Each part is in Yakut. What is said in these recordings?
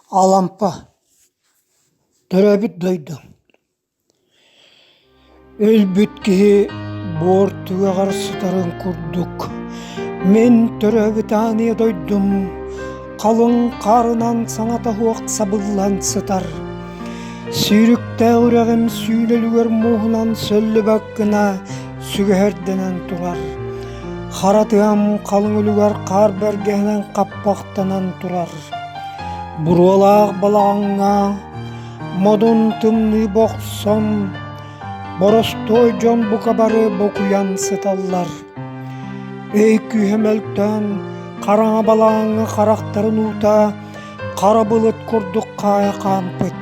Алампа, төрөөбүт дойду Өлбүт киһи буор түгэҕэр сытарын курдук Мин төрөөбүт ааньа дойдум халыҥ хаарынан саҥата суох сабыллан сытар Сүүрүктээх үрэҕим сүүнэлүгэр мууһунан сөллүбэк гына сүгэһэрдэнэн турар Хара тыам халыҥ үлүгэр хаар бэргэһэнэн хаппах таптанан турар буруолаах балаҕаҥҥа модун тымныы бохсон боростуой дьон бука бары букуйан сыталлар өй күүһэ мөлтөөн хараҥа балаҕаҥҥа харахтарын уута хара былыт курдук хаайа хаампыт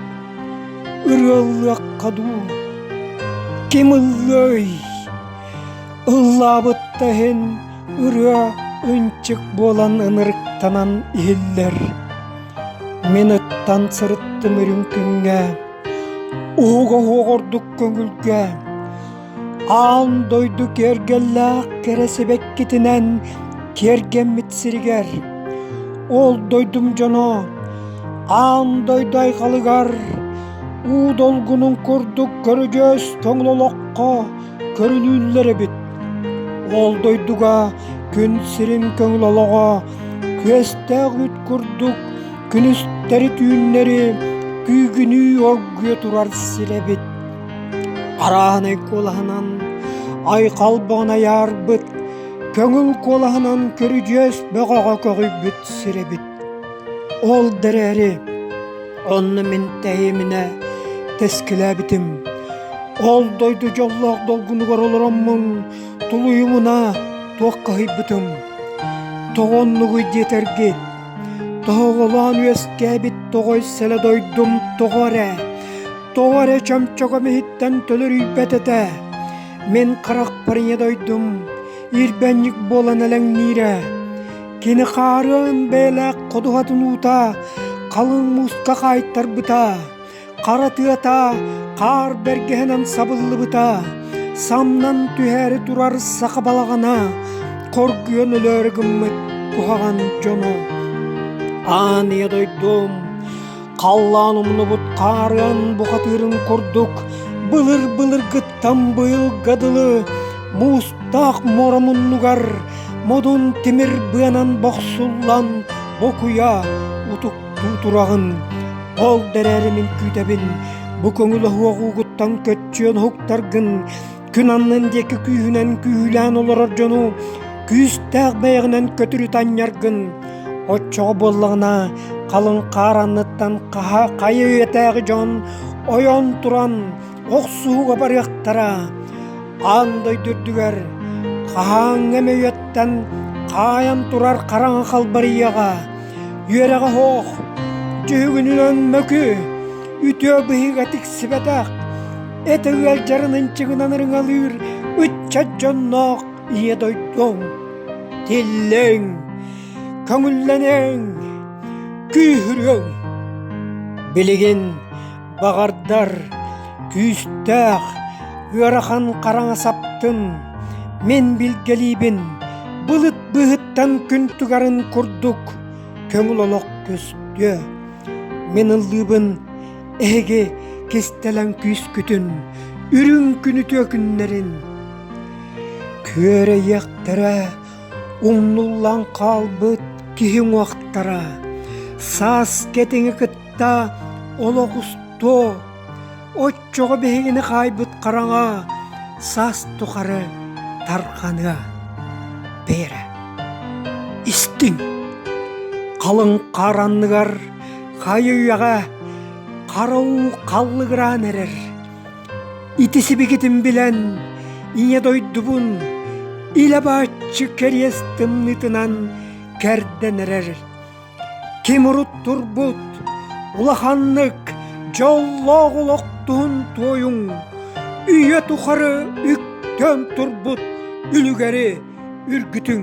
ырыаллыахха дуу ким ыллыай ыллаабытта иһин Ырыа ынчык буолан ынырыктанан иһиллэр. Мин ыттан сырыттым үрүҥ күҥҥэ, уһуга уһуох ордук көҥүлгэ. Аан дойду киэргэллээх кэрэ сибэккитинэн киэргэммит сиригэр, ол дойдум дьоно аан дойду айхалыгар, уу долгунун курдук көрүдьүөс тоҥул олоххо көрүлүүллэр эбит ол дойдуга күн сирин көҥүл олоҕо күөстээх үүт курдук күнүстэри түүннэри күүгүнүү оргуйа турар сир эбит арааһынай куолаһынан айхал бөҕөнү айаарбыт көҥүл куолаһынан көрүдьүөс бөҕөҕө көҕүйбүт сир эбит Ол да эрээри онно мин тэһииминэ тэскилээбитим. Ол дойду дьоллоох долгунугар олороммун тулуйумуна туох каһыйбытым. Тоҕо оннугуй диэтэргит, тоһоҕолоон үөскээбит тоҕой сэлэ дойдум тоҕо эрэ, тоҕо эрэ чөмчөкөм иһиттэн төлөрүйбэт этэ. Мин харахпар ийэ дойдум ирбэнньик буолан элэҥниирэ. Кини хаарыан бэлэх ходуһатын уута, халыҥ муска хаайтарбыта, хара тыата хаар бэргэһэнэн сабыллыбыта, самнан түһээри турар саха балаҕана, хоргуйан өлөөрү гыммыт куһаҕан дьоно. Ааныйа дойдум, Халлаан умнубут хаарыан бухатыырын курдук былыр-былыргыттан быйылга дылы муустаах муора муннугар модун тимир быанан бохсуллан бу куйа утуктуу тураҕын ол эрээри мин күүтэбин бу көҥүл оһуох уугуттан көччүйэн уһуктаргын күн аннын диэки күүһүнэн күүһүлээн олорор дьону күүстээх бэйэҕинэн көтүрү танньаргын оччоҕо буоллаҕына халыҥ хаар анныттан хаһа хайа үйэтээҕи дьон ойон туран охсууга барыахтара аан дойду үрдүгэр хаһааҥҥы эмэ үйэттэн хаайан турар хараҥа халбарыйаҕа үөрэҕэ оһох дьүһүгүнүнэн мөкү үтүө быһыыга тиксибэтэх эта ыалдьарын ынчыгынан ырыҥалыыр ыччат дьонноох ийэ дойдуҥ тиллиҥ көҥүллэниҥ күүһүрүҥ билигин баҕардар күүстээх ыарахан хараҥа саптын мин билгэлиибин былыт быһыттан күн тугарын курдук көҥүл олох көстүө мин ыллыыбын Эһиги кистэлэҥ күүскүтүн, үрүҥкүн үтүө күннэрин күөрэйиэхтэрэ, умнуллан хаалбыт киһи уҥуохтара, саас кэтиҥи кытта олох устуо, оччоҕо биһигини хаайбыт хараҥа саас тухары тарҕаныа. Бээрэ, истиҥ, халыҥ хаар анныгар Хайыыаҕа харау халлыгыраан эрэр. Ити сибигитин билэн ийэ дойдубун илэ бааччы кэриэс тымныытынан кэрдэн эрэр. Ким урут турбут улаханнык дьоллоох олох туһун туойуҥ үйэ тухары үктэн турбут үлүгэри үргүтүҥ.